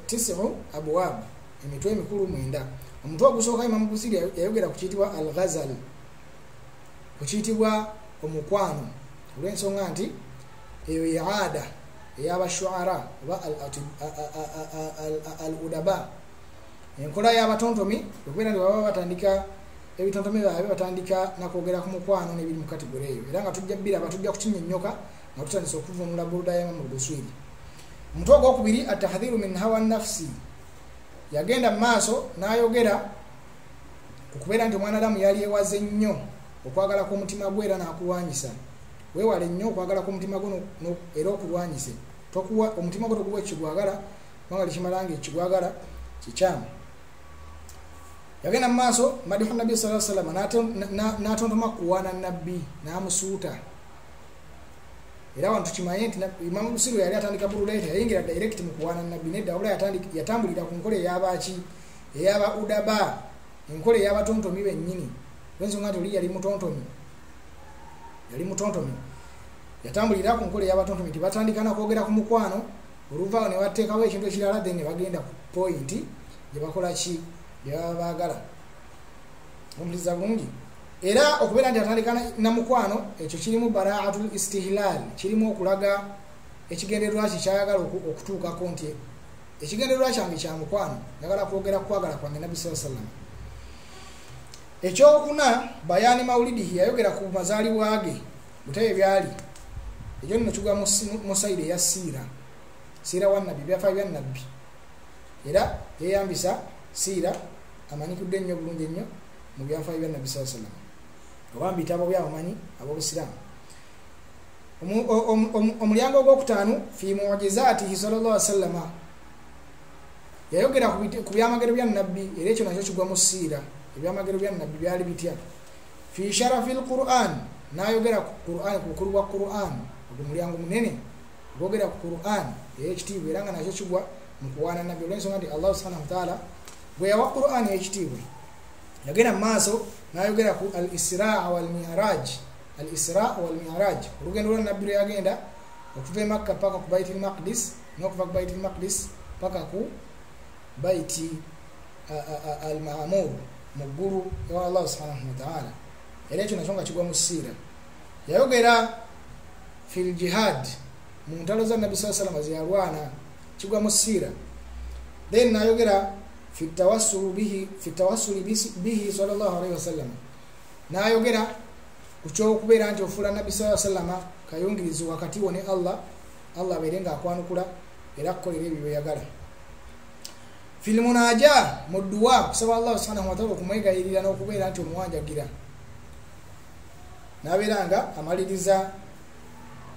tisimu abuwaabu emitwe emikulu mwenda omutwe ogusooka imamu busiri yayogera ku kiyitibwa al ghazal ku kiyitibwa omukwano olw'ensonga nti eyo ye aada eyabashuara oba al udaba enkola y'abatontomi okubeera nti baba batandika ebitontomi byabe batandika nakwogera ku mukwano n'ebiri mu kategore eyo era nga tujja biraba tujja kukinyonyoka nga tutandisa okuvunula burudayamu mu buswiri omutwe ogwokubiri atahadhiru min hawa nafsi yagenda mu maaso n'ayogera okubeera nti omwana adamu yali ewaze nnyo okwagala kw'omutima gwe era n'akulwanyisa weewale nnyo okwagala kw'omutima gwe era okulwanyise tokuwa omutima gwe tokuwa ekigwagala kubanga tekimala nga ekigwagala kikyamu yagenda mu maaso madihu nabbi saa salama n'atontoma kuwaana nabbi n'amusuuta era wano tukimanye nti imamu musiru yali atandika bululaiti yayingira direct mu kuwaana nabbi nedda wabula yatambulira ku nkola eyabaki eyaba udaba enkola eyabatontomi bennyini ensonga nti oli yali mutontomi yali mutontomi yatambulira ku nkola eyabatontomi nti batandika nakwogera ku mukwano oluvaawo ne bateekawo ekintu ekirala then ne bagenda ku pointi gye bakola ki gye baba baagala omuliza bulungi era okubeera nti atandika namukwano ekyo kirimu baraatul istihlal kirimu okulaga ekigendererwa kye kyayagala okutuukako nti ekigendererwa kyange kya mukwano njagala kwogera kukwagala kwange nabbi saa salama ekyokuna bayani maulidihi yayogera ku mazaalibwa ge butebe byali ekyo nno kigwa mu sayidi eya siira siira wa nabbi byafaayo bya nabbi era yeyambisa siira amanyikudde ennyo bulungi ennyo mu byafayo bya nabbi saa sallam oba mu bitabo byabamanyi abobusiraamu omulyango ogwokutaano fi mujizaatihi sal llah wasallama yayogera ku byamagero bya nabbi era ekyo nakyo kigwa mu siira ebyamagero bya nabbi byali bitya fi sharafi lquran nayogera ku quran ku bukulu bwa quran ogwo mulyango munene bogera ku quran eyekitiibwa era nga nakyo kigwa mu kuwaana nabbi olwensonga nti allahu subhanahu wataala bwe yawa quran eyekitiibwa yagenda mu maaso nayogera ku al israa walmiraj al israa walmiraj olugendo lwa nabbi lweyagenda okuva emakka paka ku baiti lmaqdis nokuva ku baiti lmaqdis paka ku baiti al maamur mu ggulu ewa allahu subhanahu wataala era ekyo nakyo nga kigwa mu siira yayogera fil jihad mu ntalo za nabbi saa salama zeyalwana kigwa mu siira then nayogera fitawasuli bihi salllah alaihi wasallama nayogera ku kyokubeera nti ofuula nabbi saa salama kayungirizi wakati wo ne allah allah abeere nga akwanukula era kukolera ebyo byeyagala filimunaja mu dduwa kusaba allah subhanahu wataala okumwegayirira n'okubeera nti omuwanjagira nabeera nga amaliriza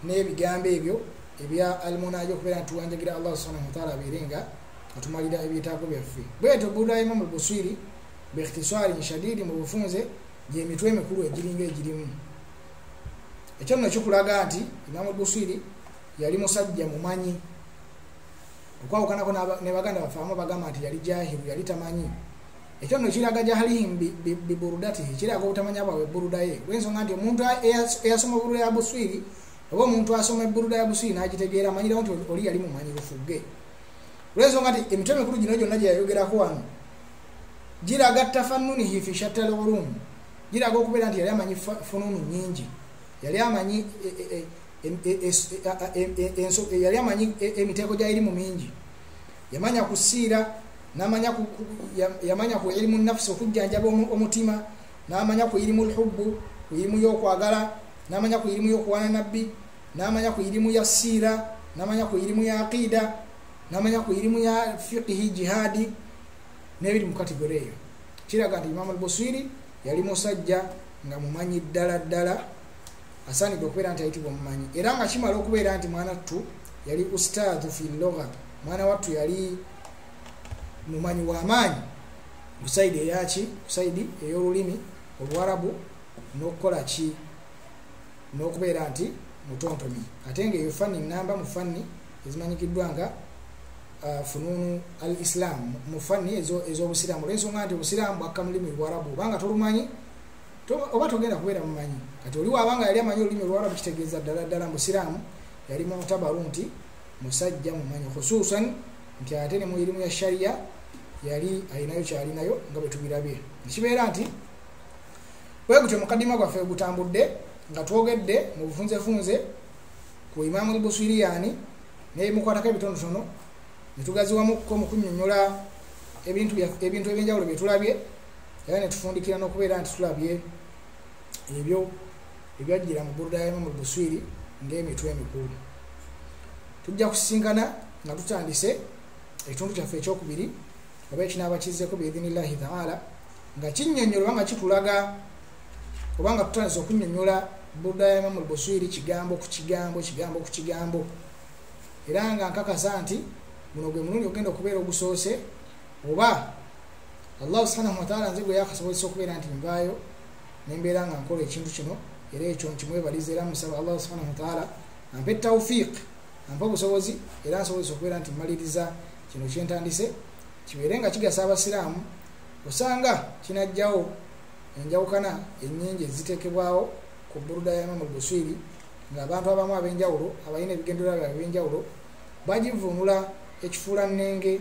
n'ebigambo ebyo ebya almunaja okubeera nti tuwanjagira allah subhanahu wataala abeere nga atumalira ebyetaago byaffe bwetyo buraimamu lbuswiri bikhtisarin shadidi mu bufunze gyemitwe emikulu egiringa egirimu ekyo nno kikulaga nti imamu lbuswiri yali musajja mumanyi okwawukanako ne baganda baffe abamu bagamba nti yali jahiru yali tamanyi ekyo no kiraga jahalihim biburudati kiraga obutamanya bwabwe buruda ye lwensonga nti omuntu eyasoma buruda ya buswiri oba omuntu asoma eburuda ya buswiri n'agitegeera amanyirawo nti oli yali mumanyi lufuge lwensonga nti emitwe mikulu gino gyonna gye yayogerako wano giraga tafanunihi fi shatalolum giraga okubeera nti yali amanyi fununu nyingi yali amanyi yali amanyi emiteeko gyayirimu mingi yamanya ku siira namanya yamanya ku irimu nafsi okujjanjaba omutima namanya ku irimu lhubbu ku irimu yokwagala namanya ku irimu yokuwana nabbi namanya ku irimu ya siira namanya ku irimu ya aqiida namanya ku irimu ya fiqihi jihaadi nebiri mu kategore eyo kiraga nti imamu albusiri yali musajja nga mumanyi ddala ddala asaanidde okubeera nti ayitibwa omumanyi era nga kimala okubeera nti mwana ttu yali ustaadu fi loga mwana wattu yali mumanyi w'amaanyi kusaidi eyaki kusaidi ey'olulimi oluwarabu n'okukola ki n'okubeera nti mutontomi ate nga eyo fanni namba mu fanni ezimanyikiddwa nga uh, fununu al islam mu fanni ez'obusiraamu olwensonga nti obusiraamu bwakka mu lulimi luwarabu obanga tolumanyi oba togenda kubeera mumanyi kati oli waaba nga yali amanyi olulimi olwarabu kitegeeza ddala ddala musiraamu yali mutabaru nti musajja mumanyi khususan nti ate ne mu irimu ya shariya yali alinayo kyalinayo nga bwe tubirabye ekibeera nti wegutyo mukadima gwaffe gutambudde nga twogedde mu bufunzefunze ku imaamu lbuswiriyani nebimukwatako ebitonotono netugaziwamukko mu kunyonyola ebintu ebyenjawulo byetulabye era netufundikira nokubeera nti tulabye ebyo ebyajjira mu ggulu lyayemu mu buswiri ngaemitwe emikulu tujja kusisinkana nga tutandise ekitundu kyaffe ekyokubiri oba ekinaaba kizzeko biidhinillahi taala nga kinyonyola oba nga kitulaga oba nga tutandise okunyonyola budayamamu lbuswiri kigambo ku kigambo kigambo ku kigambo era nga nkakasa nti guno gwe mulundi ogenda okubeera ogusoose oba allahu subhanahu wataala nze gwe yakasobozesa okubeera nti nvaayo nembeera nga nkola ekintu kino era ekyo nkimwebaliza era musaba allahu subhanahu wataala ampe taufiq ampe obusobozi era nsobozesa okubeera nti mmaliriza kino kyentandise kibeere nga kigasa abasiraamu osanga kinajjawo enjawukana enyingi ezitekebwawo ku buruda ya imamu lbuswiri nga abantu abamu abenjawulo abalina ebigendererwa byabe ebyenjawulo bagivunula ekifuula nnenge